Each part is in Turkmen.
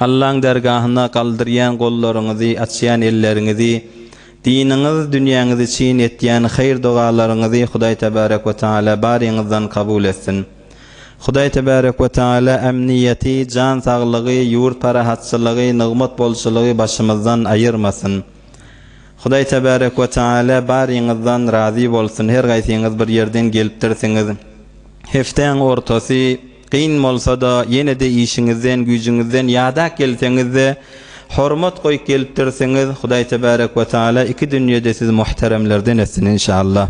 Allaň dergahyna galdyrýan gollaryňyzy, açýan elleriňizi, diniňiz, dünýäňiz üçin etýän haýyr-dogalaryňyzy Hudaý Tebarek we Teala baryňyzdan kabul etsin. Hudaý Tebarek we Teala ämniýeti, jan saglygy, ýurt parahatçylygy, nygmat bolçulygy başymyzdan aýyrmasyn. Hudaý Tebarek we Teala baryňyzdan razy bolsun, her gaýsyňyz bir ýerden gelipdirsiňiz. Heftäň ortasy. Kyn bolsa-da, ýene-de işiňizden, güýjüňizden ýadak gelseňiz-de, hormat goýup gelipdirsiňiz, Hudaý Tebärek we Taala iki dünýede sizi muhteremlerden etsin, enşallah.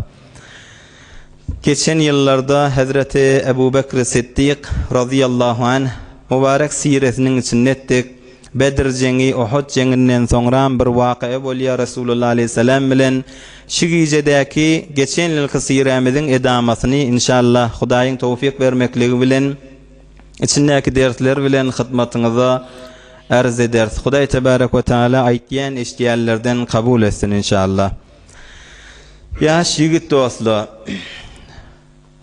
Geçen ýyllarda hezreti Ebu Bekri Siddik, razyýallahu anh, mübarek siresiniň içinde etdik. Bedr jeňi, Uhud jeňinden soňram bir waka bolýar, Resulullah aleýhissalam bilen şu gijedäki, geçen ýylky syýrämiziň edamatyny, inşallah, Hudaýyň towfyk bermekligi bilen, içindäki dersler bilen hyzmatyňyza arz ederis. Hudaý tebarek we taala aýtýan, eşidýänlerden kabul etsin, inşallah. Ýaş ýigit dostlar!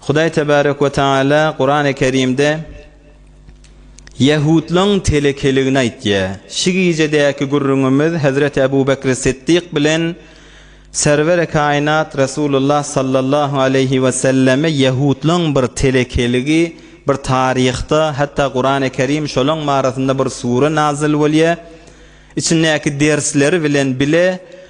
Hudaý Tebarek we Tagala Kurany Kerimde Ýahudlaň telekeligini aýtýar. Şu gijedäki gürrüňimiz Hezreti Ebu Bekri Siddik bilen Serweri Kainat Resulullah Sallallahu Aleýhi we Selleme Ýahudlaň bir telekeligi bir taryhda hatda Kurany Kerim şolaň barasynda bir sure nazyl bolýar içindäki dersleri bilen bile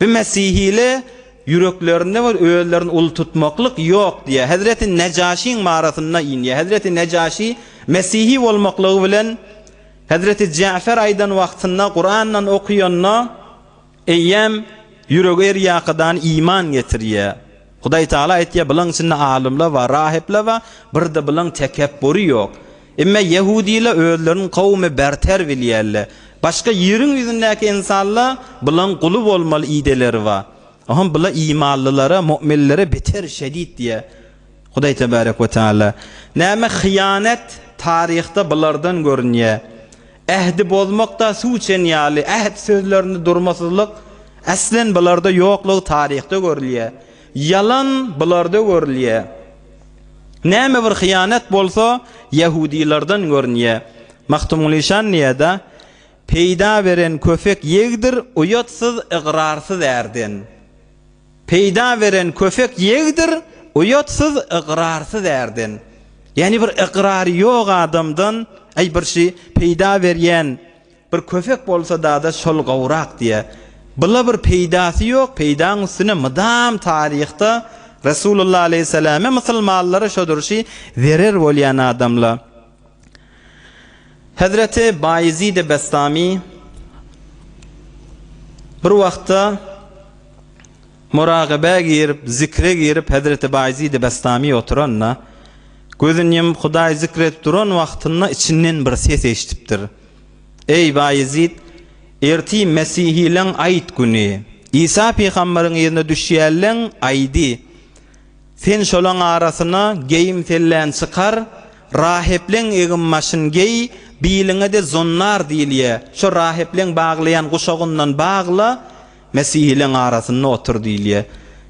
Bu mesihile ýüreklerinde bir özlerini uly tutmaklyk ýok diýýär. Hezreti Nejaşyň marasyna inýär. Hezreti Nejaşy mesihi bolmaklygy bilen Hezreti Jäfer aýdan wagtynda Kurandan okuyanda eýýäm ýüregi erýakydany iman getirýär. Hudaý Taala aýtýar, Bularyň içinde alymlar bar, rahipler bar, bir-de bularyň tekepburi ýok. Emma ýehudylar özlerini kowumy berter bilýärler. Başga ýeriň ýüzündäki ynsanlar bularyň guly bolmaly ideleri bar. Oňem bular imanlylara, mu'minlere beter şedit diýýär Hudaý Tebarek we Taala. Näme hyýanet taryhda bulardan görünýär. Ähdi bozmak-da suw içen ýaly, äht sözlerinde durmasyzlyk, eslen bularda ýoklugy taryhda görülýär. Ýalan bularda görülýär. Näme bir hyýanat bolsa, ýahudylardan görünýär. Magtymguly şan diýýär-de, Peýda beren köpek ýegdir, uýatsyz, ygrarsyz ärden. Peýda beren köpek ýegdir, uýatsyz, ygrarsyz ärden. Ýagny bir ygrary ýok adamdan, Äý, bir şi peýda berýän bir köpek bolsa-da-da şol gowrak diýýär. Bula bir peýdasy ýok, peýdaň üstüne mydam taryhda Resulullah aleýhissalame, musulmanlara şodur şi zerer bolýan adamla. Hezreti Baýezid-i Bestami bir wagtda muragabä girip, zikre girip, hezreti Baýezid-i Bestami oturanda, gözüni ýumup Hudaýy zikr edip duran wagtynda içinden bir ses eşidipdir. Eý, Baýezid, erti mesihileň aýt güni. Isa pygamberyň yzyna düşýärleň aýdy. Sen şolaň arasyna geýim-sellän çykar, rahepleň egin-başyn geý, biliňe-de zonnar diýilýä, şo rahepleň baglaýan guşagyndan bagla, mesihileriň arasynda otur diýilýä.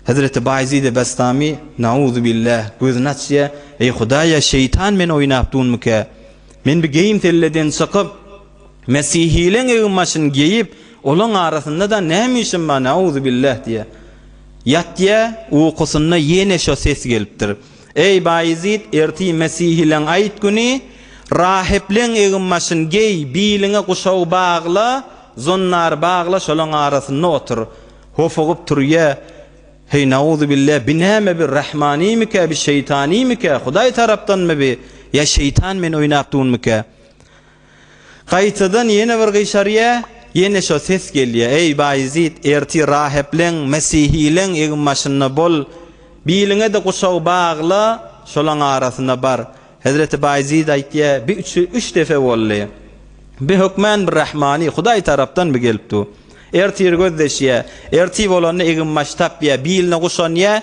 Hezreti Baýezid-i Bestami, Nauzubillâh, gözüni açýar, Eý, Hudaý-a, şeýtan meni oýnap dunmykä? Men bi geýim-selleden çykyp, Mesihileň egin-başyny geýip, olaň arasynda-da näme işim bar, näuzubilläh diýýär. Ýatýar, ukusynda ýene şo ses gelipdir. Eý, Baýezit, ertir mesihileň aýt güni, rahipleň egin-başyny geý, biliňe guşagy bagla, zonnary bagla, şolaň arasynda otur. Hopugyp turýar. Heý, näuzubilläh, bi näme, bi rahmanymikä, bi şeýtanymykä, Hudaý tarapdanmy bi, ýa şeýtan meni oýnap durmyka? Gaýtadan ýene bir gyşarýar, ýene şo ses gelýär, Eý, Baýezit, ertir rahepleň, mesihileň eginbaşynda bol, biliňe-de guşak bagla, şolaň arasyna bar. Hezreti Baýezit aýtýar, Bi üç depe boldy. Bi hökmän bir rahmany, Hudaý tarapdan bi gelip dur. Ertir gözleşýär. Ertir bolanda eginbaş tapýar, biline guşanýar,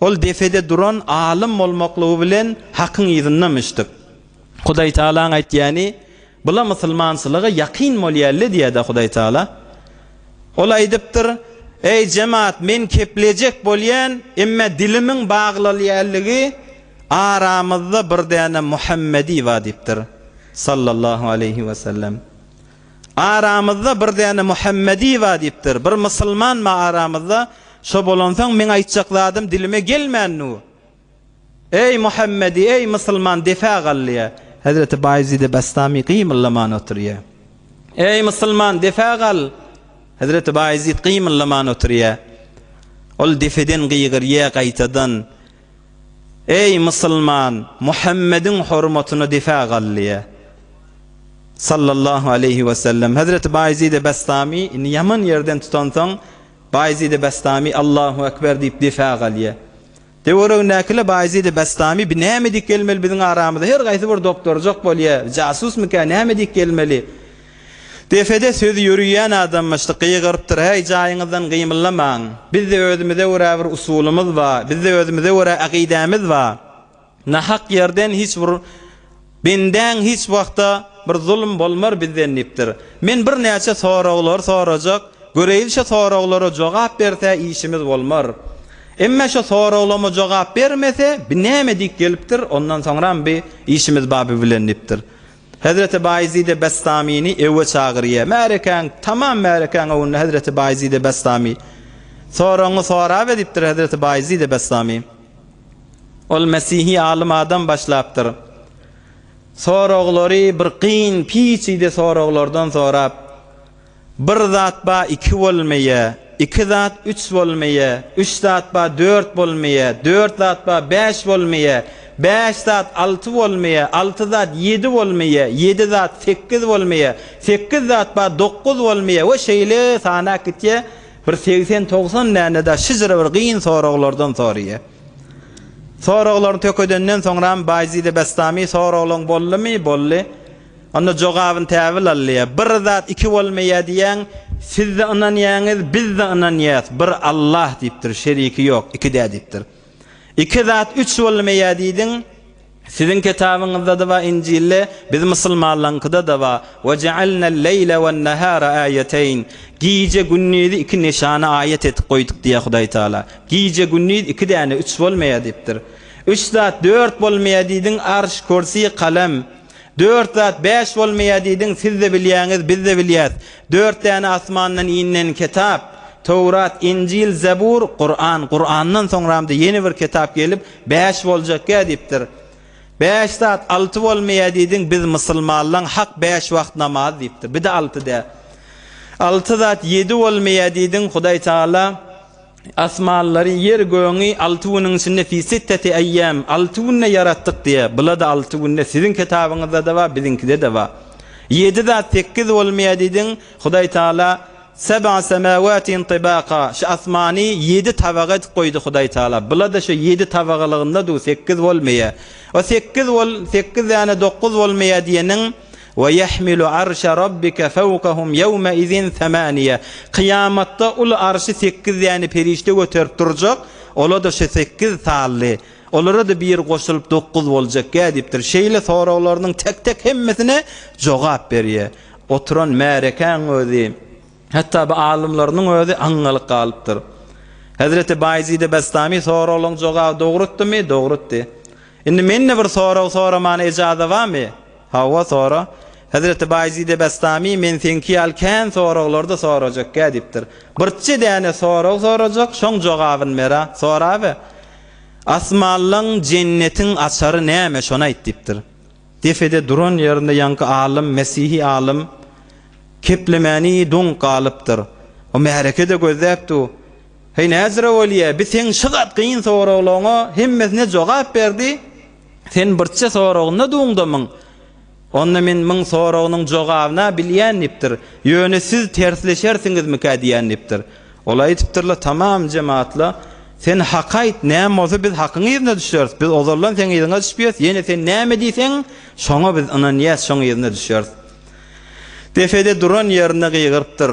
Ol depede duran alym bolmaklygy bilen Hakyň yzynda myşdyk. Hudaýtagalaň aýtýany, Bula musulmançylyga ýakyn bolýa-le diýýä-dä Hudaýtagala. Ol aýdypdyr, Eý, jemat, men keplejek bolýan, emme dilimiň baglylýaligi aramyzda bir däne Muhammedi ba diýipdir, sallallahu aleýhi wesellem. Aramyzda bir däne Muhammedi bar diýipdir. Bir musulman bar aramyzda. Şo bolansoň meň aýtjak zadym dilime gelmän dur. Eý Muhammedi, eý musulman depä gal diýýär. Hezreti Baýezidi Bastami gymyldaman oturýar. Eý musulman depä gal! Hezreti Baýezid gymyldaman oturýar. Ol depeden gygyrýar gaýtadan. Eý, musulman, Muhammediň hormatyna difä gal! diýýär. Sallallahu aleýhi we sellem, Hezreti Baýezid-i Bestamy, indi ýaman ýerden tutansoň, Baýezid-i Bestamy, Allahu ekber! diýip, difä galýar. Töweregindäkiler, Baýezid-i Bestamy, bi näme diýip gelmeli biziň aramyza? Her gaýsy bir doktorjak bolýar. Jasusmyka, näme diýip gelmeli? Depede söz ýöriýän adamyşdy, gygyrypdyr, Häý, jaýyňyzdan gymyllamaň! Bizde özümize görä bir usulymyz ba, bizde özümize görä akydämiz ba. Nahak ýerden hiç bir bendäň hiç wagtda bir zulum bolmar bizden diýipdir. Men birnäçe soraglar sorajak, göreýin şo soraglara jogap berse işimiz bolmar. Emma şo soraglama jogap bermese bi näme diýip gelipdir, ondan soňram bi işimiz ba bi bilen diýipdir. Hezreti Baýezid-i Bestamyny öwe çagyrýa. Märekäň, tamam märekäň öwünde hezreti Baýezid-i Bestamy, Soragyňy sora be diýipdir hezreti Baýezid-i Bestamy. Ol mesihi alym adam başlapdyr. Soraglary bir kyn, piçide soraglardan sorap, Bir zat ba iki bolmeýe, iki zat üç bolmeýe, üç zat ba dört bolmeýe, dört zat ba bäş bolmeýe, bäş zat alty bolmeýe, alty zat ýedi bolmeýe, ýedi zat sekiz bolmeýe, sekiz zat ba dokuz bolmeýe we şeýle sanap gitýä, bir segsen-togsan däne-de şyjyra bir gyn soraglardan sorýa. Soraglaryny tökedenden soňram Baýzid-i Bestami soraglaň boldumy? Boldy. Onda jogabyn täbil alýa. Bir zat iki bolmaýa diýýäň, sizde ynanýaňyz, bizde ynanýas, bir Allah diýipdir, şeriki ýok, ikidä diýipdir. Iki zat üç bolmaýa diýdiň, siziň kitabyňyzdada ba injilde, biz musulmanlaňkyda da ba, we jealnel leýle wen nehara aýeteýn, gije gündizi iki neşana aýat etip goýduk diýýä Hudaý Taala. Gije gündiz iki däne üç bolmaýa diýipdir. Üç zat dört bolmaýa diýdiň, arş, kürsi, kalem. Dört zat bäş bolmaýar diýdiň, siz-de bilýäňiz, biz-de bilýäs. Dört däne asmandan inen kitap, Töwrat, Injil, Zebur, Kuran. Kurandan soňramda ýene bir kitap gelip, bäş boljakýa diýipdir. Bäş zat alty bolmaýar diýdiň, biz musulmanlaň hak bäş wagt namaz diýipdir. Bir-de alty dä. Alty zat ýedi bolmaýar diýdiň, Hudaý Tagala, Asmanlary, ýeri-gögüňi alty günüň içinde, fi sitteti eýýam, alty günde ýaratdyk diýýär. Bula-da alty günde, siziň kitabyňyzda-da bar, biziňkide-de bar. Ýedi zat sekiz bolmaýar diýdiň, Hudaý Taala, Seb'a semawati'n tibaka, şu asmany ýedi tabak edip goýdy Hudaý Taala. Bula-da şu ýedi tabagylygynda duw, sekiz bolmaýar. O sekiz bol, sekiz däne dokuz bolmaýar diýeniň, Wa yahmilu arşa Rabbika fawkahum yawma izin samaniya, kyýamatda uly arşy sekiz däne perişde göterip durjak, ola-da şu sekiz sally, olara-da bir goşulyp dokuz boljak ýa diýipdir. Şeýle soraglarynyň tek-tek hemmesine jogap berýär. Oturan märekäň özi, hatda bu alymlarynyň özi aňňalyk galypdyr. Hezreti Baýezid-i Bestami soraglaryň jogaby dogrytdymy? Dogrytdy. Indi men-de bir sorag soramana ejaza barmy? Hawa, sora. Hezreti Baýezid-i Bestami men seňki ýaly kän soraglar-da sorajak-ä, diýipdir. Birçe däne sorag sorajak, şoň jogabyny ber-ä. Sorabe. Asmanlaň, jennetiň açary näme, şony aýt, diýipdir. Depede duran ýerinde ýaňky alym, mesihi alym keplemäni doňup galypdyr. O märeke-de gözläpdi. Heý näzire bolýa, bi seň şy gat gyn soraglaryňa hemmesine jogap berdi, sen birçe soragynda duňdamyň, onda men müň soragynyň jogabyna bilýän dipdir, ýöne siz tersleşersiňizmikä diýän dipdir. Ol aýdypdyrla tamam jematla, sen haky aýt, näme bolsa biz hakyň yzyna düşeris, biz ozaldan seň yzyňa düşüp ýörüs, ýene sen näme diýseň şoňa biz ynanýas, şoň yzyna düşeris. Depede duran ýerinde gygyrypdyr.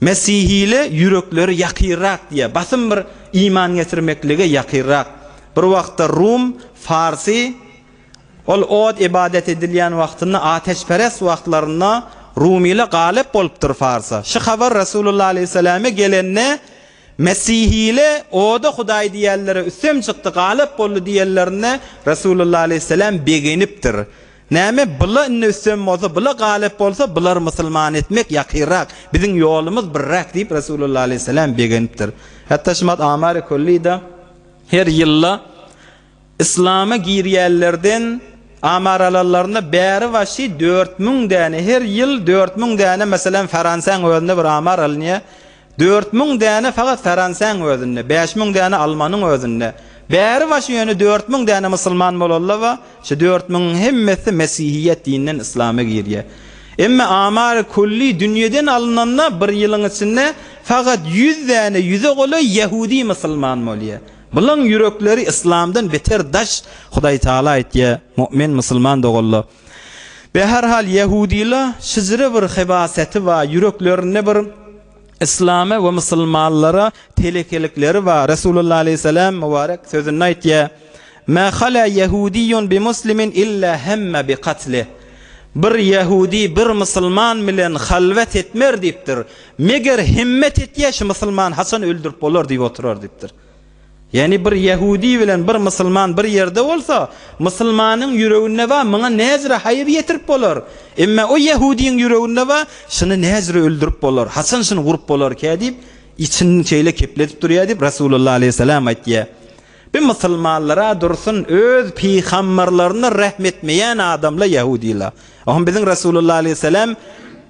Mesihile ýürekleri ýakyrrak diýýär. Basym bir iman getirmeklige ýakyrrak. Bir wagtda Rum, Farsy, ol ot ybadat edilýän wagtynda ateşperest wagtlarynda Rumyla galyp bolupdyr Farsa. Şu habar Resulullah aleýhissalame gelende Mesihile oda hudaý diýenlere üstem çykdy galyp boldy diýenlerinde Resulullah aleýhissalam begenipdir. Näme bula indi üstem bolsa bula galyp bolsa bulary musulman etmek ýakynrak biziň ýolumyz birräk diýip Resulullah aleýhissalam begenipdir. Hatda Şymat Amari Kullida her ýylda Yslama girýänlerden Amar alanlarynda bäri başy dört müň däne her ýyl dört müň däne meselem Fransiýaň özünde bir Amar alynýar Dört müň däne fakat Faransäň özünde, bäş müň däne Almanyň özünde. Bäri başy ýöne dört müň däne musulman bolallaba, şu dört müňiň hemmesi mesihiýet dininden islama girýä. Emma amary külli dünýeden alynanda bir ýylyň içinde fakat ýüz däne ýüze golaý ýahudi musulman bolýa. Bulaň ýürekleri islamdan beter daş Hudaýtagala aýtýa, Mu'min musulman doganlar! Be her hal ýahudyla şjre bir hebaseti ba ýüreklerinde bir islama we musulmanlara telekelikleri ba Resulullah aleyhisselam mubarek sözünde aýtýa Ma hala ýahudyýun bi muslimin illa hemma bi katli Bir ýahudy bir musulman bilen halwat etmer diýipdir meger himmet etýä şu musulman haçan öldürip bolar diýip oturar diýipdir. Ýagny bir ýehudi bilen bir musulman bir ýerde bolsa, musulmanyň ýüreginde bar, muňa näzire haýyr ýetirip bolar. Emma o ýehudiň ýüreginde bar, şuny näzire öldürip bolar, haçan şuny urup bolarkä diýip, içini şeýle kepledip durýar diýip, Resulullah aleýhissalam aýtýar. Bu musulmanlar-a dursun, öz pygamberlerine rehm etmeýän adamlar ýehudiler. Oňa biziň Resulullah aleýhissalam,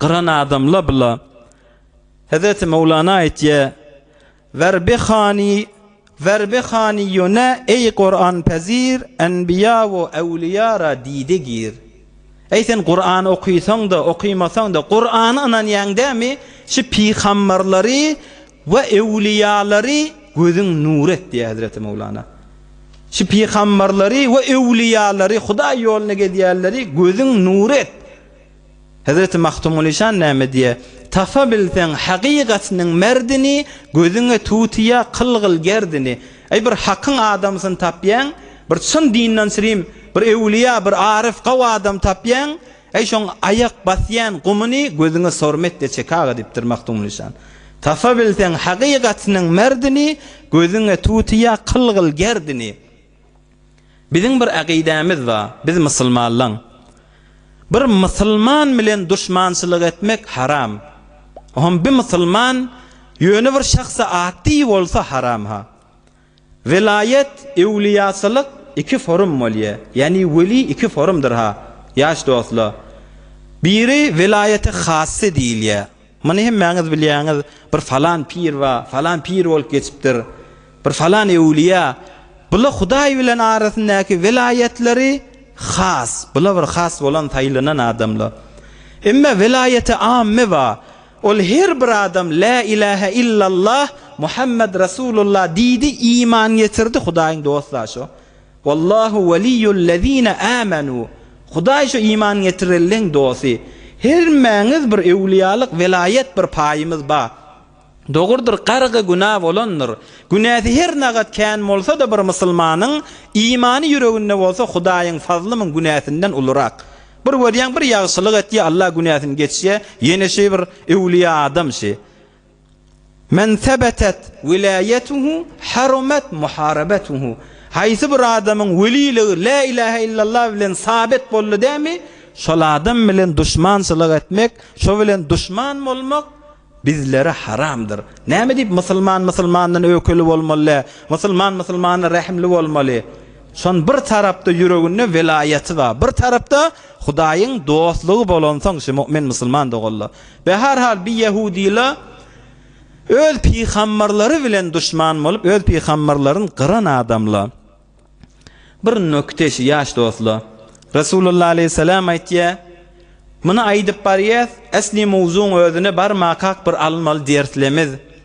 Gyran adamla bula Hezreti Möwlana aýtýa, Werbi hany, werbi hany ýöne eý Kuran pezir, enbiýa we äwliýara diýde gir. Eý sen Kuran okysaň-da, okymasaň-da, Kurana ynanýaň dämi, şu pygamberleri we äwliýalary gözüň nur et diýýä Hezreti Möwlana. Şu pygamberleri we äwliýalary, Hudaý ýoluna gezýänleri gözüň nur et. Hezreti Magtymgulyşan näme diýýär, Tapabilseň hakykatynyň merdini, Gözüňe tutýa kylgyl gerdini. Eý, bir hakyň adamsyny tapýaň, Bir çyn dinden srim, bir öwlüýa, bir aryf, gawy adam tapýaň, Eý, şoň aýak basýan gumuny, Gözüňe sormetde çek aga diýipdir Magtymgulyşan. Tapabilseň hakykatynyň merdini, Gözüňe tutýa kylgyl gerdini. Biziň bir akydämiz bar, biz musulmanlaň. Bir musulman bilen duşmançylyk etmek haram. Oňam bi musulman ýöne bir şahsa at diýi bolsa haram-ha. Welaýat, ewliýaçylyk iki forum bolýa. Ýani weli iki forumdyr-ha, ýaş dostlar. Biri welaýaty hassy diýilýä. Muny hemmäňiz bilýäňiz, bir falan pir bar, falan pir bolup geçipdir, bir falan öwlüýä. Bula Hudaý bilen arasyndaky welaýatlary has, bula bir has bolan saýlanan adamlar. Emma welaýaty amme bar, ol her bir adam Lä ilähe illallah, Muhammet Rasulullah diýdi, iman getirdi, Hudaýyň dostlar şo. Wallahu weliyyu'l-lezine amanu, Hudaý şu iman getirenleň dosty. Hemmäňiz bir öwliýalyk welaýat bir paýymyz ba. Dogrudyr gargy günä bolandyr. Günäsi her nagat kän bolsada bir musulmanyň imany ýüreginde bolsa Hudaýyň fazly müň günäsinden ulurak. Bir görýäň bir ýagşylyk etýä Allah günäsini geçýä ýene şi bir öwliýa adam şi. Men sebetet welaýatuhu harumat muharabatuhu, Haýsy bir adamyň weliligi La ilahe illallah bilen sabit boldy dämi, şol adam bilen duşmançylyk etmek, şo bilen duşman bolmak bizlere haramdyr. Näme diýip musulman musulmandan öwkeli bolmaly dä, musulman musulmana rehimli bolmaly? Şon bir tarapda ýüreginde welaýaty bar, bir tarapda Hudaýyň dostlugy bolansoň şu mu'min musulman doganlar. We her hal bi ýehudyla öz pygamberleri bilen duşman bolup öz pygamberlerin gyran adamla bir nokte şu ýaş dostla Resulullah aleyhisselam aýtýa muny aýdyp barýas esli mowzuň özüne barmakak bir alynmaly derslemiz.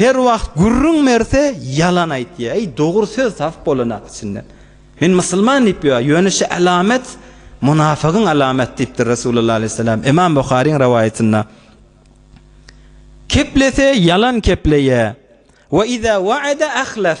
Her wagt gürrüň berse ýalan aýtýa eý dogry söz tapyp bolanak içinden men musulman diýip ýör ýöne şu alamet munafygyň alamaty diýipdir Resulullah aleýhissalam Imam Buharyň rawaýatynda Keplese ýalan kepleýä we iza wa'ada ahlaf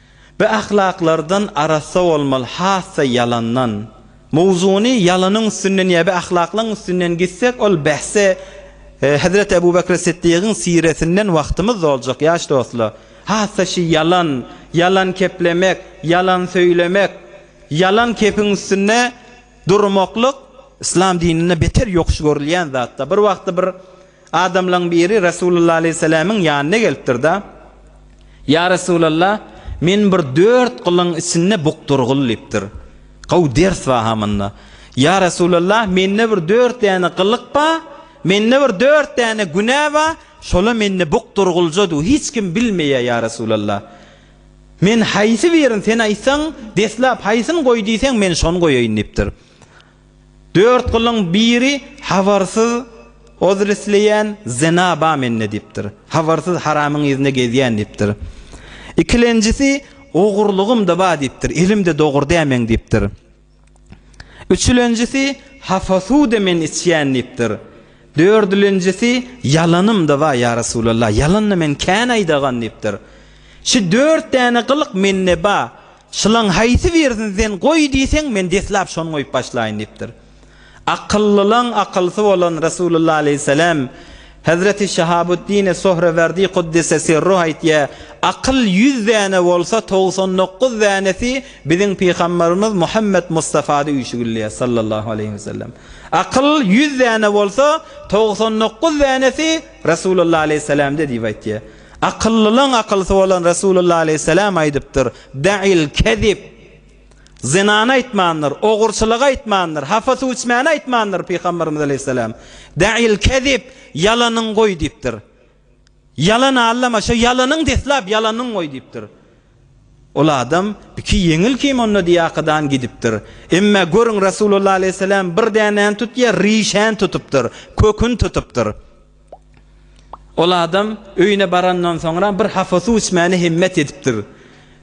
Bi ahlaklardan arassa bolmaly hassa ýalandan. Mowzuny ýalanyň üstünden ýa bi ahlaklaň üstünden gitsek ol bahse Hezreti Ebu Bekri Siddigiň siretinden wagtymyz doljak ýaş dostlar. Hassa şi ýalan, ýalan keplemek, ýalan söýlemek, ýalan kepiň üstünde durmaklyk Yslam dininde beter ýokuş görülýän zatda. Bir wagtda bir Adamlaň biri Resulullah aleýhissalamiň ýanyna gelipdir-de, Ýa Resulallah, men bir dört gylyň içinde bukdurgyl diýipdir. Gowy ders bar ha munda. Ýa Resulallah, mende bir dört däne gylyk bar, mende bir dört däne günä bar, şola mende bukdurgylja du, hiç kim bilmeýär ýa Resulallah. Men haýsy birini sen aýtsaň, deslap haýsyny goý diýseň, men şony goýaýyn diýipdir. Dört gylyň biri habarsyz ozlesleýän zena ba mende diýipdir. Habarsyz haramyň yzynda gezýän diýipdir. Ikilenjisi ogurlygym-da ba diýipdir. Elim-de dogur dämeň diýipdir. Üçülenjisi hafa suw-da men içýän diýipdir. Dördülenjisi ýalanym-da ba ýa Resulallah, ýalan-da men kän aýdagan diýipdir. Şu dört däne gylyk mende ba. Şulaň haýsy birisini sen goý diýseň, men deslap şony goýup başlaýyn diýipdir. Akyllylaň akylsy bolan Resulullah aleýhisselam, Hezreti Şahabuddine Sohrewerdi Kuddise Sirruh aýtýar, Akyl ýüz däne bolsa, togsan dokuz dänesi biziň Pygamberimiz Muhammet Mustafada üýşügilýär, sallallahu aleýhi we sellem. Akyl ýüz däne bolsa, togsan dokuz dänesi Resulullah aleýhisselamda diýip aýtýar. Akyllylaň akylsy bolan Resulullah aleýhissalam aýdypdyr, Da'il kezib, Zynany aýtmandyr, ogurçylygy aýtmandyr, hapa suw içmäni aýtmandyr, Pygamberimiz aleýhissalam, Da'il kezib, Ýalanyň goý diýipdir. Ýalan allama, şo ýalanyň deslap ýalanyň goý diýipdir. Ol adam, Iki ýeňil kim onda diýýäkadan gidipdir. Emmä görüň Resulullah aleýhissalam bir dänäni tutýar, rişäni tutupdyr, köküni tutupdyr. Ol adam öýüne barandan soňra bir hapa suw içmäni hemmet edipdir.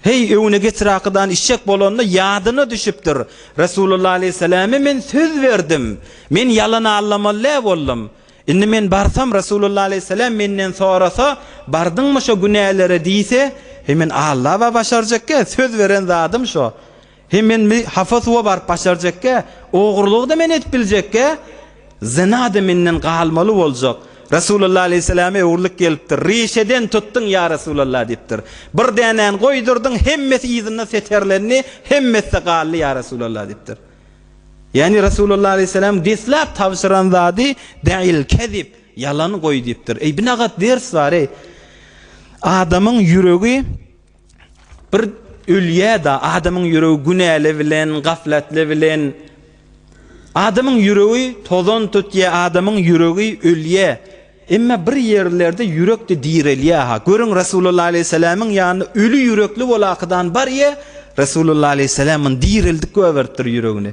Heý, öwüne getir akydany içjek bolanda ýadyna düşüpdir, Resulullah aleýhissalama men söz berdim, men ýalan allamaly-dä boldum. Indi men barsam Resulullah aleýhissalam menden sorasa, Bardyňmy şo günälere diýse, heý men alla-a başarjakka, söz beren zadym şo. He men bi hapa suwa baryp başarjekkä, ogurlygy-da men edip biljekkä, zyna-da menden galmaly boljak. Resulalla aleýhissalama öwrülip gelipdir. Rişeden tutdyň, ýa Resulalla diýipdir. Bir dänäni goýdurdyň, hemmesi yzynda seterlendi, hemmesi-de galdy, ýa Resulalla diýipdir. Ýagny Resulalla aleýhissalam deslap tabşyran zady Da'il kezib, ýalany goý diýipdir. Eý binagat ders bar-eý. Adamyň ýüregi. Bir ölýä-da, adamyň ýüregi günäli bilen, gaflatly bilen. Adamyň ýüregi tozan tutýar, adamyň ýüregi ölýär. Emma bir ýerlerde ýürek-de direlýär-ha. Görüň, Resulullah aleýhissalamyň ýanynda öli ýürekli bolakydan barýar, Resulullah aleýhissalam ony direldik goýberipdir ýüregini.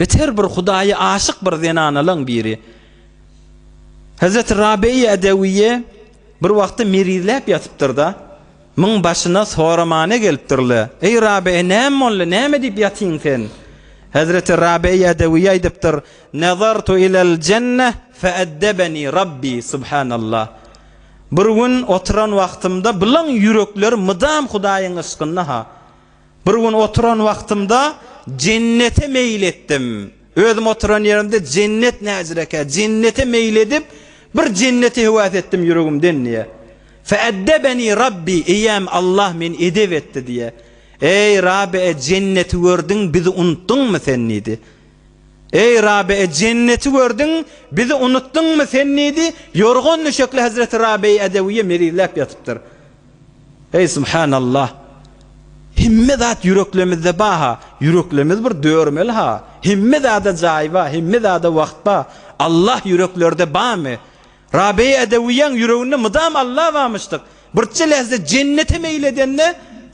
Biz her bir Hudaýa aşyk bir zenanalaň biri. Hezreti Rabeýa Edewiýe bir wagty merizläp ýatypdyr-da, myň başyna soramane gelipdir-le, Eý Rabeýa, näme boldy, näme diýip ýatyň sen? Hezreti Rabeýa Edewiýe aýdypdyr, Nazartu ilel jenne feeddebeni Rabbi, subhanallah. Bir gün oturan wagtymda, Bilaň ýürekler mydam Hudaýyň yşkynda-ha. Bir gün oturan wagtymda jennete meýil etdim. Özüm oturan ýerimde jennet näcirekä, jennete meýil edip, bir jenneti höwes etdim ýüregimden diýýär. Feeddebeni Rabbi, eýäm Allah meni edep etdi diýýär. Eý, Rabi-e, jenneti gördüň, bizi unutdyňmy sen diýdi. Eý, Rabi-e, jenneti gördüň, bizi unutdyňmy sen diýdi. Ýorgan-düşekli hezreti Rabi-i Edewiýe mezizläp ýatypdyr. Eý subhanallah hemme zat ýüreklemizde baha ýüreklemiz bir dörmeli ha hemme zada jaý ba hemme zada wagt ba Allah ýüreklerde bamy Rabeý edewiýaň ýüreginde mydam Allah bamyşdyk birçe lehze jennete meýil edende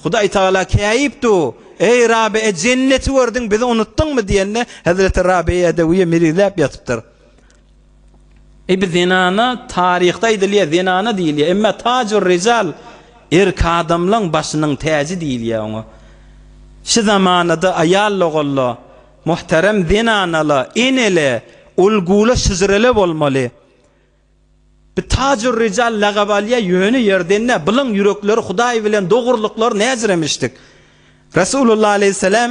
Hudaý tagala käýip du eý Rabe e jenneti gördüň bizi unutdyňmy diýende hezreti Rabeý edewiýa mirizläp ýatypdyr Ebi zenana taryhda aýdylýar, zenana diýilýär. Emma tajur rizal erk adamlaň başynyň täji diýilýär oňa. Şu zamanada aýal-ogalla, muhterem zenanala, enele, ulgula, şjrele bolmaly. Bir tajur rizal lagap alýar ýöne ýerden däl, bulan ýürekleri hudaý bilen dogurlyklary näjiremişdik. Resulullah aleýhissalam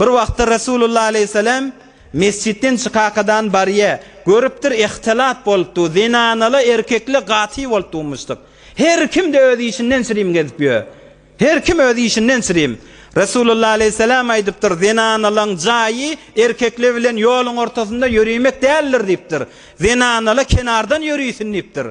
Bir wagtlar Resulullah aleýhissalam mesjitden çykakadan barýa, görüpdir ihtilat bolupdyr, zenanaly erkekli gaty bolup durmuşdyk. Her kimde öz işinden çirim gezip ýör. Her kim öz işinden çirim. Resulullah aleýhissalam aýdypdyr, zenanalyň jaýy erkekli bilen ýoluň ortasynda ýörimek däldir diýipdir. Zenanaly kenardan ýörisin diýipdir.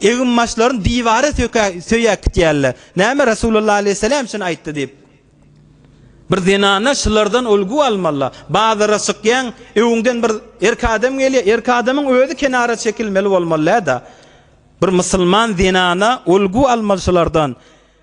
Egin-başlaryny diwara söýäp gitýärler. Näme Resulullah aleýhissalam şuny aýtdy diýip. Bir zenana şulardan ulgy almaly. Bazara çykýaň, öňüňden bir erkek adam gelýär, erkek adamyň özi kenara çekilmeli bolmaly däda. Bir musulman zenana ulgy almaly şulardan.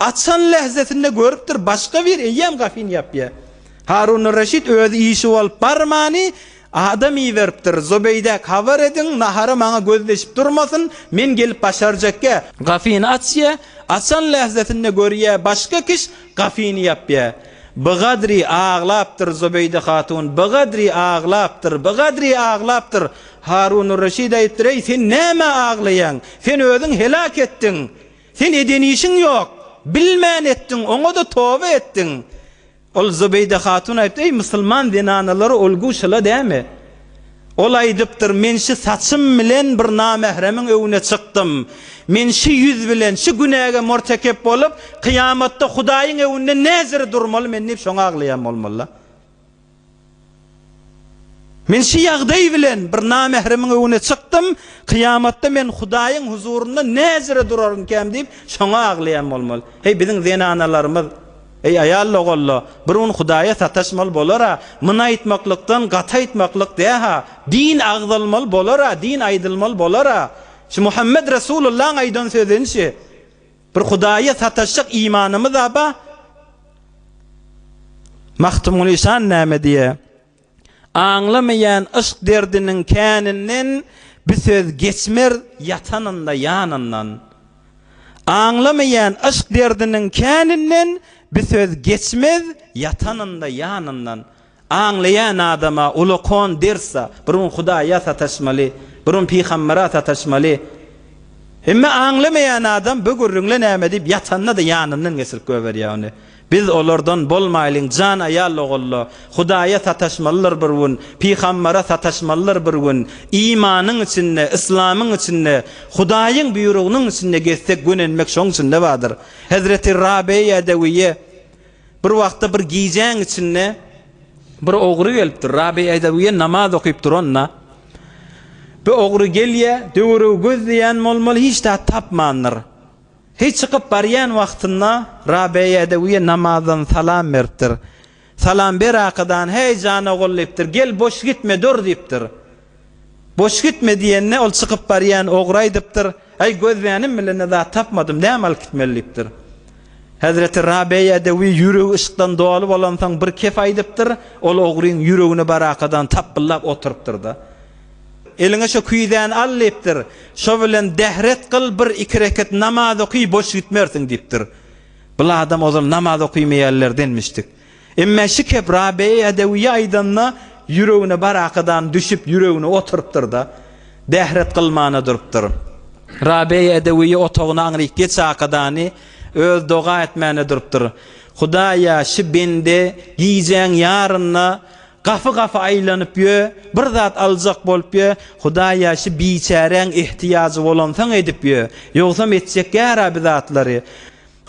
Açan lähzesinde görüpdir, başga bir eýýäm gafin ýapýa. Harunur-Reşit özi işi bolup barmany, adam iberipdir, Zobeýdäk habar ediň, nahara maňa göz deşip durmasyn, men gelip başarjakgä, gafini açýa, açan lähzesinde görýä, başga kiş gafini ýapýa. Bigadri aglapdyr Zobeýde hatun, bigadri aglapdyr, bigadri aglapdyr. Harunur-Reşit aýypdyr, Eý, sen nämä aglaýaň? Sen özüň heläk etdiň. Sen eden işiň ýok. Bilmän etdiň, oňa-da toba etdiň. Ol Zübeýde hatun aýypdy, Eý, musulman zenanalary ölgüw şyla dämi? Ol aýdypdyr, Men şü saçym bilen bir namähremiň öwüne çykdym. Men şü ýüz bilen şü günäge mortekep bolup, kyýamatda Hudaýyň öwünde näziri durmaly men diýip şoňa aglaýan bolmaly-la. Men şu ýagdaý bilen bir namähremiň öňüne çykdym, kyýamatda men Hudaýyň huzurynda näjere durarynkäm diýip, şoňa aglaýan bolmaly. Heý, biziň zenanalarymyz, Eý, aýal dogalla, bir gün Hudaýa sataşmaly bolar-a, Myn aýtmaklykdan gaty aýtmaklyk dä-ha, din agzalmaly bolar-a, din aýdylmaly bolar-a, şu Muhammet Resulullaň aýdan sözüni-şi, Bir Hudaýa sataşjak imanymyz-a ba? Magtymguly şan näme diýe? Aňlamaýan yşk derdiniň käninden bi söz geçmer ýatanynda ýanyndan. Aňlamaýan yşk derdiniň käninden bi söz geçmez ýatanynda ýanyndan. Aňlaýan adama ulakon dersa bir gün Hudaýa sataşmaly, bir gün pygambera sataşmaly. Emma aňlamaýan adam bu gürrüňle näme diýip ýatanda-da ýanyndan geçirip goýberýär ony. Biz olardan bolmaýlyň jan aýal ogullar. Hudaýa sataşmalylar bir gün, pygambera sataşmalylar bir gün. Imanyň içinde, yslamyň içinde, Hudaýyň buýrugynyň içinde gezsek gönenmek şoň içinde bardyr. Hezreti Rabeýa Edewiýe. Bir wagtda bir gijäň içinde bir ogry gelipdir. Rabi Edewiýe namaz okyp duranda, bu ogry gelýär, döweregi gözleýän bolmaly, hiç zat tapmandyr. He çykyp barýan wagtynda Rabi Edewiýe namazdan salam beripdir. Salam berakydany, Häý, jan ogul diýipdir, gel boş gitme dur diýipdir. Boş gitme diýende, ol çykyp barýan ogry aýdypdyr, Äý, gözlänim bilen-de zat tapmadym, näme alyp gitmeli? diýipdir. Hezreti Rabeýedewi ýüregi yşkdan doly bolansoň, bir kep aýdypdyr, ol ogryň ýüregini barakadan tapbyllap oturypdyr-da, Eliňe şo küýzäni al, diýipdir, şo bilen dehret kyl, bir iki reket namaz oky, boş gitmersiň, diýipdir. Bul adam ozal namaz okymaýanlardan-mişdik. Emme Şikep Rabeýa dewiýi aýdanda, ýüregine barakadan düşüp, ýüregine oturypdyr-da, bähret kylmana durupdyr. Rabeýa dewiýi otagyna aňryk geç akadany, öz doga etmäne durupdyr. Hudaýa, şu bende gijäň ýarynda gapy-gapy aýlanyp ýö, bir zat aljak bolup ýö, Hudaýa, şu biçäräň ehtiýajy bolansoň edip ýö, ýogsam etjek ýara-bi zatlary.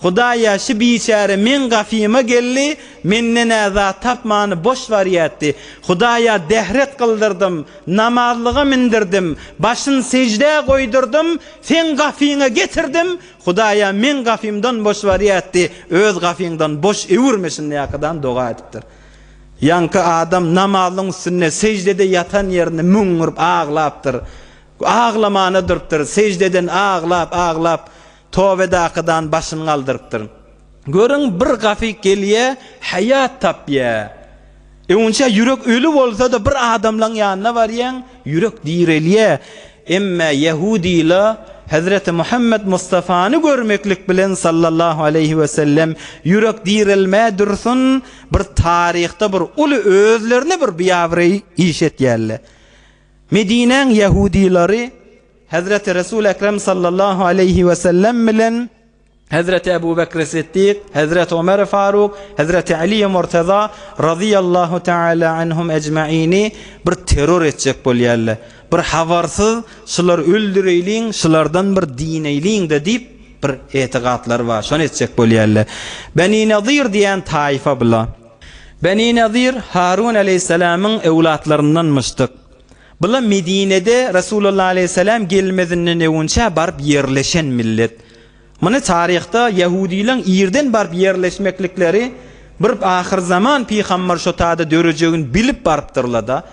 Hudaýa şu biçäre meň gafyma geldi, menden-ä zat tapmany boş barýatdy. Hudaýa dehret kyldyrdym, namazlyga mindirdim, başyn seždä goýdurdym, seň gafyňa getirdim, Hudaýa meň gafymdan boş barýatdy, öz gafyňdan boş öwürme şindäkadan doga edipdir. Ýaňky adam namazlyň üstünde seždede ýatan ýerinde müňňürip aglapdyr. Aglamana durupdyr, seždeden aglap, aglap, Tobedaky dan başyny galdyrypdyr. Görüň, bir gafyk gelýä, haýat tapýa. Öňinçä ýürek öli bolsa-da bir adamlaň ýanyna barýaň, ýürek direlýä. Emma ýahudyla Hezreti Muhammet Mustafany görmeklik bilen sallallahu aleýhi we sellem ýürek direlmäý dursun, bir taryhda bir uly özlerine bir biabraý iş etýärler. Medinäň ýahudylary Hezreti Resul Ekrem sallallahu aleýhi we sellem bilen Hezreti Ebu Bekri Siddik, Hezreti Omeri Faruk, Hezreti Aliýi Murteza razyýallahu teala anhum ejmaini bir terror etjek bolýarlar. Bir habarsyz şulary öldüreýliň, şulardan bir dineýliň-de diýip bir etigatlary bar, şony etjek bolýarlar. Beni Nadir diýen taýfa bular. Beni Nadir Harun aleýhissalamyň öwlatlaryndanmyşdyk. Bula Medinede Resulullah aleýhissalam gelmezinden öwünçä baryp ýerleşen millet. Muny taryhda ýahudylaň irden baryp ýerleşmeklikleri bir ahyrzaman pygambar şotada dörejegini bilip barypdyrlada.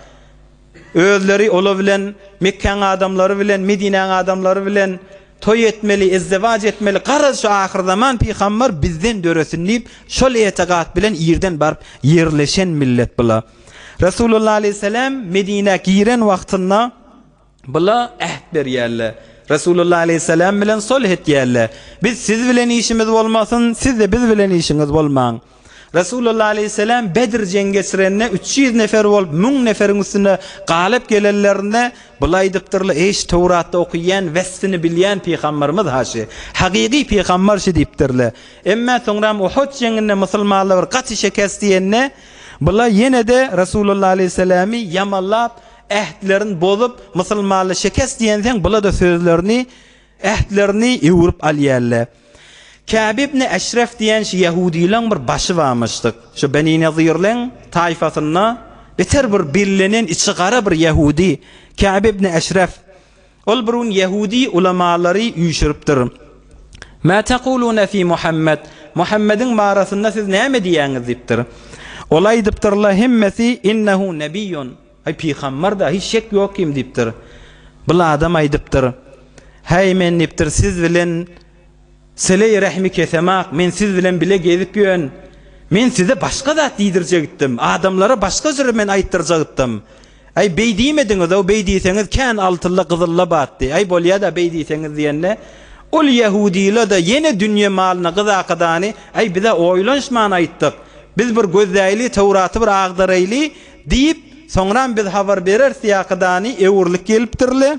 Özleri ola bilen Mekkäň adamlary bilen Medinäň adamlary bilen toý etmeli, ezzewac etmeli, garaz şu ahyrzaman pygambar bizden döresin diýip şol etegat bilen irden baryp ýerleşen millet bula. Resulullah aleýhissalam Medinä giren wagtynda bula äht berýärler. Resulullah aleýhissalam bilen solh etýärler. Biz siz bilen işimiz bolmasyn, siz-de biz bilen işiňiz bolmaň. Resulullah aleýhissalam Bedr jeňi geçirende üç ýüz nefer bolup müň neferiň üstünde galyp gelenlerinde bula aýdypdyrlar, Eý şu Töwratda okyýan, wespini bilýän pygambarymyz haşy, hakyky pygambar şu diýipdirler. Emma soňram Uhud jeňinde musulmanlar bir gaty şekes diýende, Bular ýene-de Resulullah aleýhissalamy ýamanlap, ähtlerini bozup, musulmanly şekes diýensoň, bular-da sözlerini, ähtlerini öwrüp alýarlar. Käb ibn Eşref diýen şu ýahudylaň bir başy barmyşdyk. Şu Beni Nezirleň taýfasynda beter bir bellenen içi gara bir ýahudy Käb ibn Eşref. Ol bir gün ýehudy ulamalary üýşüripdir. Mä tekulune fi Muhammed, Muhammediň barasynda siz näme diýýäňiz? diýipdir. Ola aýdypdyrlar hemmesi, Innehu nebiýun, Aý, pygambar-da, hiç şek ýok kim diýipdir. Bir adam aýdypdyr, Häý, men diýipdir, siz bilen sile-i rehimi kesemok, men siz bilen bile gezip ýön. Men size başga zat diýdirjek itdim, adamlara başga jyry men aýtdyrjak itdim. Äý, beý diýmediňiz-ow, beý diýseňiz, kän altylla, gyzylla batdy. Äý, bolýa-da, beý diýseňiz diýende, ol ýahudyla-da, ýene dünýe malyna gyzakydany, Äý, biz-ä oýlanyşman aýtdyk. Biz bir gözläýli, Töwraty bir agdaraýly diýip, soňram biz habar bereris diýäkydany, öwrülip gelipdir-le.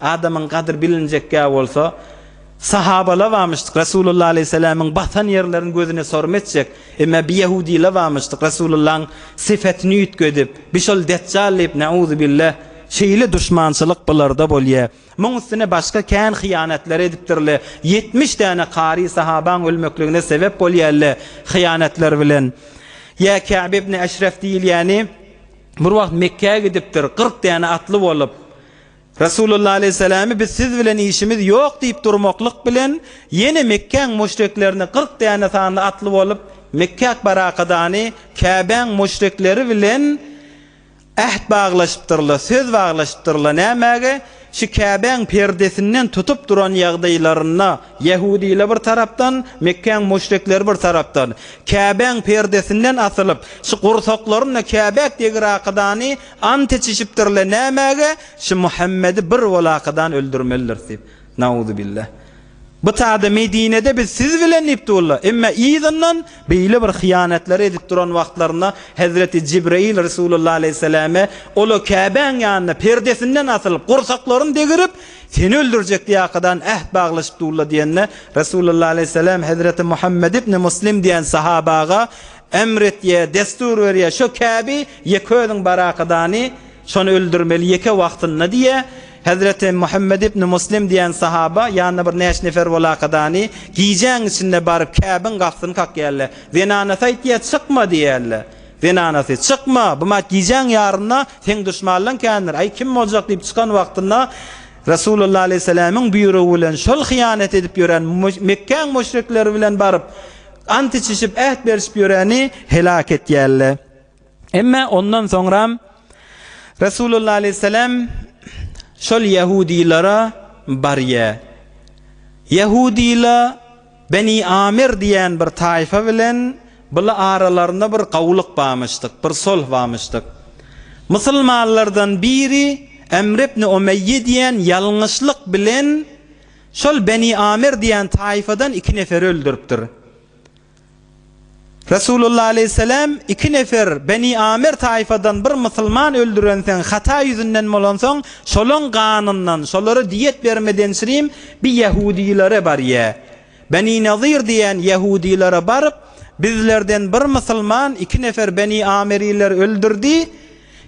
Adamyň gadyr bilinjekgä bolsa, Sahabala bamyşdyk, Resulullah aleyhisselamyň basan ýerlerini gözüne sorym etjek, emme bi ýahudila bamyşdyk, Resulullahyň syfetini üýtge edip, bi şol Detjal diýip, Neuzubilleh, şeýle duşmançylyk bularda bolýa. Muň üstüne başga kän hyýanatlar edipdirle, ýetmiş däne kary sahabaň ölmekligine sebep bolýalle, hyýanatlar bilen. Ýa Käb ibn Eşref diýilýäni bir wagt Mekgä gidipdir, kyrk däne atly bolup. Resulullah aleýhissalamy biz siz bilen işimiz ýok diýip durmaklyk bilen, ýene Mekgäň muşriklerini kyrk däne sanly atly bolup, Mekgäk barakadany Käbäň muşrikleri bilen äht baglaşypdyrlar, söz baglaşypdyrlar. Nämäge? Şu Käbäň perdesinden tutup duran ýagdaýlarynda, ýehudylar bir tarapdan, Mekgäň muşrikleri bir tarapdan, Käbäň perdesinden asylyp, şu gursaklaryna Käbäk degirakadany Ant içişipdirler nämäge? Şu Muhammedi bir bolakadan öldürmelidiris diýip. Nauzubillah. Bu tada Medinede biz siz bilen diýip durlar. Emma yzyndan beýle bir hyýanatlary edip duran wagtlarynda Hezreti Jibraýyl Resulullah aleýhissalame ola Käbäň ýanynda perdesinden asylyp, gursaklaryny degirip, seni öldürjek diýakadan äht baglaşyp durlar diýende, Resulullah aleýhissalam Hezreti Muhammed ibn Muslim diýen sahaba aga Emr etýä, dessur berýä, şo käbi ýeke özüň barakadany, şony öldürmeli, ýeke wagtynda diýä. Hezreti Muhammet ibn Muslim diýen sahaba ýanyna bir näçe nefer bolakadany, gijäň içinde baryp käbiň gapysyny kakýärler. Zenanasy aýtýä, çykma diýärler. Zenanasy, çykma, bu mat gijäň ýarynda seň duşmanlaň kändir, aý kim boljak diýip çykan wagtynda Resulullah aleýhissalamyň buýrugy bilen şol hyýanat edip ýören Mekgäň müşrikleri bilen baryp, Ant içişip, äht berişip ýöreni heläk etýärler. Emma ondan soňram Resulullah aleyhisselam şol ýahudylara barýar. Ýahudylar Beni Amir diýen bir taýfa bilen bula aralarynda bir gawulyk barmyşdyk, bir solh barmyşdyk. Musulmanlardan biri Emr ibn Umeýýe diýen ýalňyşlyk bilen Şol Beni Amir diýen taýfadan iki nefer öldüripdir. Resulullah aleýhisselam iki nefer Beni Amir taýfadan bir musulman öldürenseň hata ýüzünden bolansoň şolaň ganyndan şolara diýet bermedençriým bi ýahudilere barýa. Beni Nazir diýen ýahudilere baryp bizlerden bir musulman iki nefer Beni Amiriler öldürdi,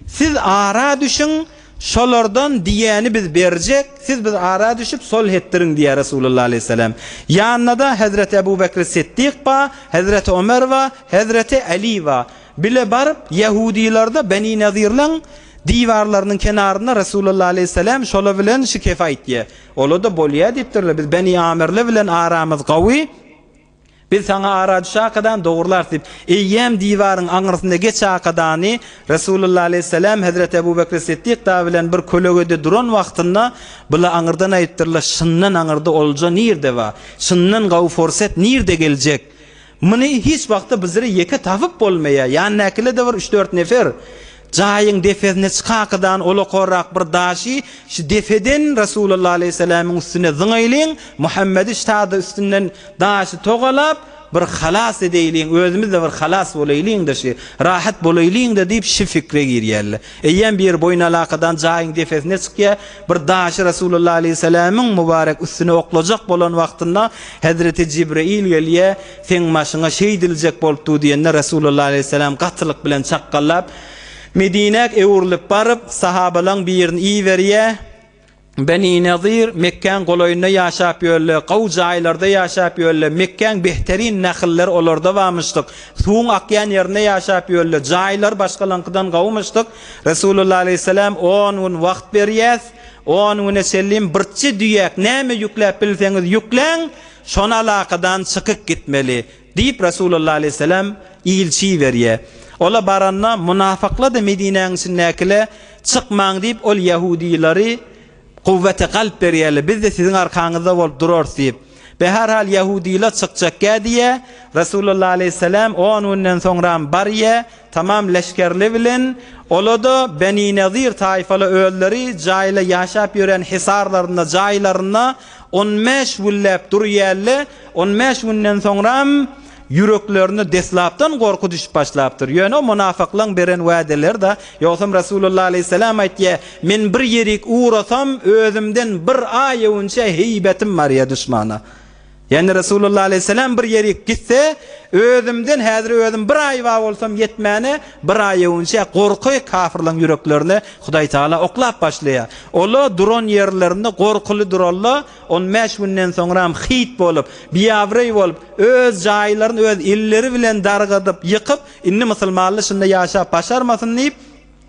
Siz ara düşüň, şolardan diýýäni biz berjek, siz biz ara düşüp solh etdiriň diýýär Resulullah aleýhissalam. Ýanynda-da Hezreti Ebu Bekri Siddik ba, Hezreti Omer ba, Hezreti Aly ba. Bile baryp, ýahudylarda Beni Nazirleň diwarlarynyň kenarynda Resulullah aleýhissalam şola bilen şikef aýtýar. Ola-da bolýar diýipdirler, biz Beni Amirli bilen aramyz gawy. Biz saňa ara düş akadan dogrularys diýip, eýýäm diwaryň aňyrsynda geç akadany Resulullah aleýhissalam hezreti Ebu Bekri Siddik da bilen bir kölegede duran wagtynda bula aňyrdan aýypdyrlar, Şyndan aňyrda olja nirde bar? Şyndan gawy forset nirde geljek? Muny hiç wagtda bizre ýeke tapyp bolmaýar, ýandakiler-de bir üç-dört nefer. Jaýyň depesine çykakydan olakorak bir daşy şu depeden Resulullah aleýhissalamyň üstüne zyňaýlyň, Muhammedi şa-da üstünden daşy togalap, bir halas edeýliň, özümiz-de bir halas bolaýlyň-da şu, rahat bolaýlyň-da diýip şu pikre girýärler. Eýýäm biri boýun alakadan jaýyň depesine çykýar, bir daşy Resulullah aleýhissalamyň mübarek üstüne oklajak bolan wagtynda Hezreti Jibraýyl gelýär, Seň başyňa şeýdiljek bolup dur diýende, Resulullah aleýhissalam gatylyk bilen çakgallap, Medinäk öwrülip baryp, sahabalaň birini iberýär, Beni Nazyr, Mekgäň golaýynda ýaşap ýörler, gaw jaýlarda ýaşap ýörler, Mekgäň behteryn nahylleri olarda barmyşdyk, suwuň akýan ýerinde ýaşap ýörler, jaýlary başgalaňkydan gawymyşdyk, Resulullah aleýhissalam, On gün wagt berýäs, on güne çenli birçe düýäk näme ýükläp bilseňiz ýükläň, Şon alakadan çykyk gitmeli, diýip, Resulullah aleýhissalam ilçi iberýär. Ola baranda, munafykla-da Medinäniň içindäkile, Çykmaň! diýip, ol ýahudylary kuwwete galp berýärler, Biz-de siziň arkaňyzda bolup durarys diýip. Be her hal ýahudylar çykjakgä diýýär. Resulullah aleýhissalam on günden soňram barýar. Tamam leşgerli bilen, ola-da Benynezir taýfaly özleri jaýla ýaşap ýören hisarlarynda, jaýlarynda on bäş günläp durýälle, on bäş günden soňram ýüreklerine deslapdan gorky düşüp başlapdyr. Ýöne o munafyklaň beren wädeleri-da, ýogsam Resulullah aleýhisselam aýtýa, Men bir ýerik ugrasam, özümden bir aýewünçe heýbetim barýa duşmana. Ýagny Resulullah aleýhissalam bir ýerik gitse, özümden häzir özüm bir aýba bolsam ýetmäne, bir aýewünçä gorky kafirleň ýüreklerine Hudaýtagala oklap başlaýar. Ola duran ýerlerinde gorkuly duralla, on bäş günden soňram hyýt bolup, biabraý bolup, öz jaýlaryny öz elleri bilen dargadyp, ýykyp, indi musulmanly şunda ýaşap başarmasyn diýip,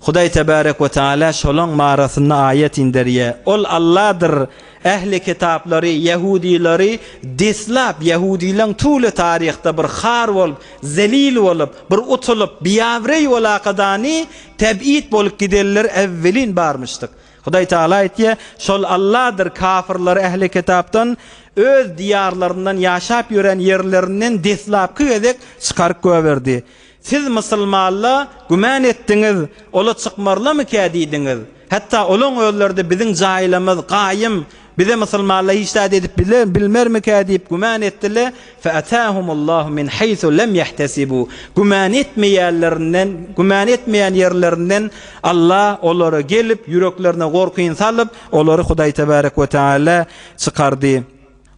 Hudaý tebärek we taala şolaň barasynda aýat inderýär. Ol Alladyr. Ähli kitaplary, ýahudylary, deslap, ýahudylaň tüwli taryhda bir har bolup, zelil bolup, bir utulyp, biabreý bolakadany teb'id bolup gidenler äwwelin barmyşdyk. Hudaý taala aýtýar, Şol Alladyr kafirlary ähli kitapdan öz diýarlaryndan ýaşap ýören ýerlerinden deslapky gezek çykaryp göberdi. Siz mysylmalla güman etdiňiz, ola çykmarlamykä diýdiňiz. Hatda olaň özleri-de biziň jaýlymyz gaýym, bize mysylmalla hiç zat edip biler, bilmermikä diýip güman etdile, featahumullahu min haýsu lem yahtasibu, güman etmeýänlerinden, güman etmeýän ýerlerinden Alla olara gelip, ýüreklerine gorkyny salyp, olary Hudaý tebarek we teala çykardy.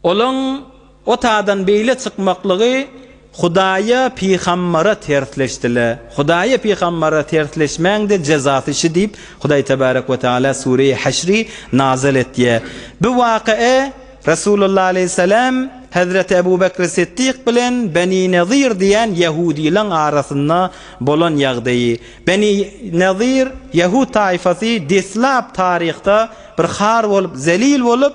Olaň otadan beýle çykmaklygy Hudaýa pygambara tersleşdile. Hudaýa pygambara tersleşmäňde jezasy şi diýip Hudaý tebarek we taala Sureýi Haşri nazal etýä. Bu wakaa Resulullah aleýhissalam Hezreti Ebu Bekri Siddik bilen Beni Nezir diýen ýahudylaň arasynda bolan ýagdaýy. Beni Nezir ýahud taýfasy deslap taryhda bir har bolup zelil bolup,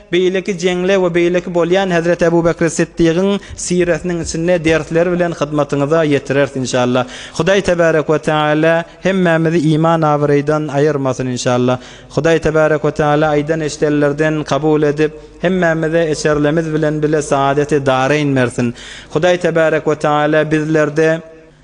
Beýleki jeňle we beýleki bolýan Hezreti Ebu Bekri Siddigiň siresiniň içinde dersleri bilen hyzmatyňyza ýetireris inşallah. Hudaý Tebarek we Teala hemmämizi iman abyraýdan aýyrmasyn inşallah. Hudaý Tebarek we Teala aýdan eşidenlerden kabul edip, hemmämize eşerlemiz bilen bile saadeti dareýn bersin. Hudaý Tebarek we Teala bizlerde.